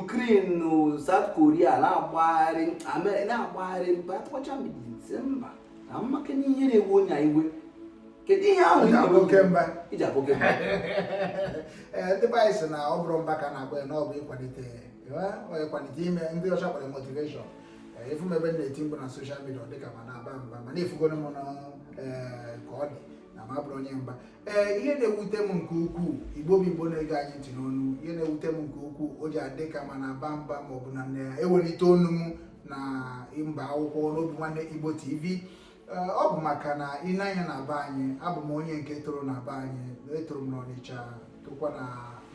Ukraine na South Korea na-agbagharị na-agbagharị mba akpọcha mba na maka n'ihe na-ewe onye iwe kedu ihe ahụ i ji aba oke mba i ji aba oke mba ee ndị be anyị sị na ọ bụrụ mba ka na-agba ya na ọ bụ ịkwalite ịkwalite ihe ndị ọcha kpọrọ motivation ị fụ m ebe m na-eti mkpu na soshal midia dịka m na-aba mba mana ị fụgoro m ka ọ dị na m abụrọ onye mba ee ihe na-ewute m nke ukwuu igbo bụ igbo na-ege anyị ntị n'ụnọ ihe na-ewute m nke ukwuu o ji adị ka m na-aba mba ma ọ bụ na m na-ewelite onu m na mba akụkọ n'Obinwannem igbo tv ee ọ bụ maka na ị na-anya na be anyị abụ m onye nke toro na be anyị etoro m n'ọnịcha tokwa na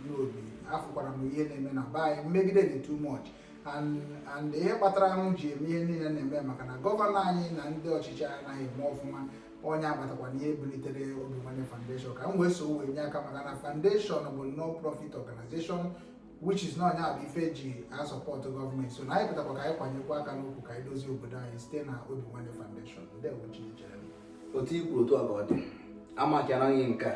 Nnobi afụkwara m ihe na-eme na be anyị mmegide dị too much and and ihe kpatara m ji eme ihe niile m na-eme maka na gọvanọ anyị na ndị ọchịchị anaghị eme ọfụma ọ ya kpatakwa na e bulitere Obinwannem Foundation ka m wee so wee nye aka maka na foundation bụ non-profit organization which is na ọ ya bụ ife e ji asọpọtụ gọọmenti so na anyị pụtakwa ka anyị kwanyekwa aka n'ukwu ka anyị dozie obodo anyị site na Obinwannem Foundation ndewo Chinechere otu i kwuru otu a ka ọ dị maka na ihe nke a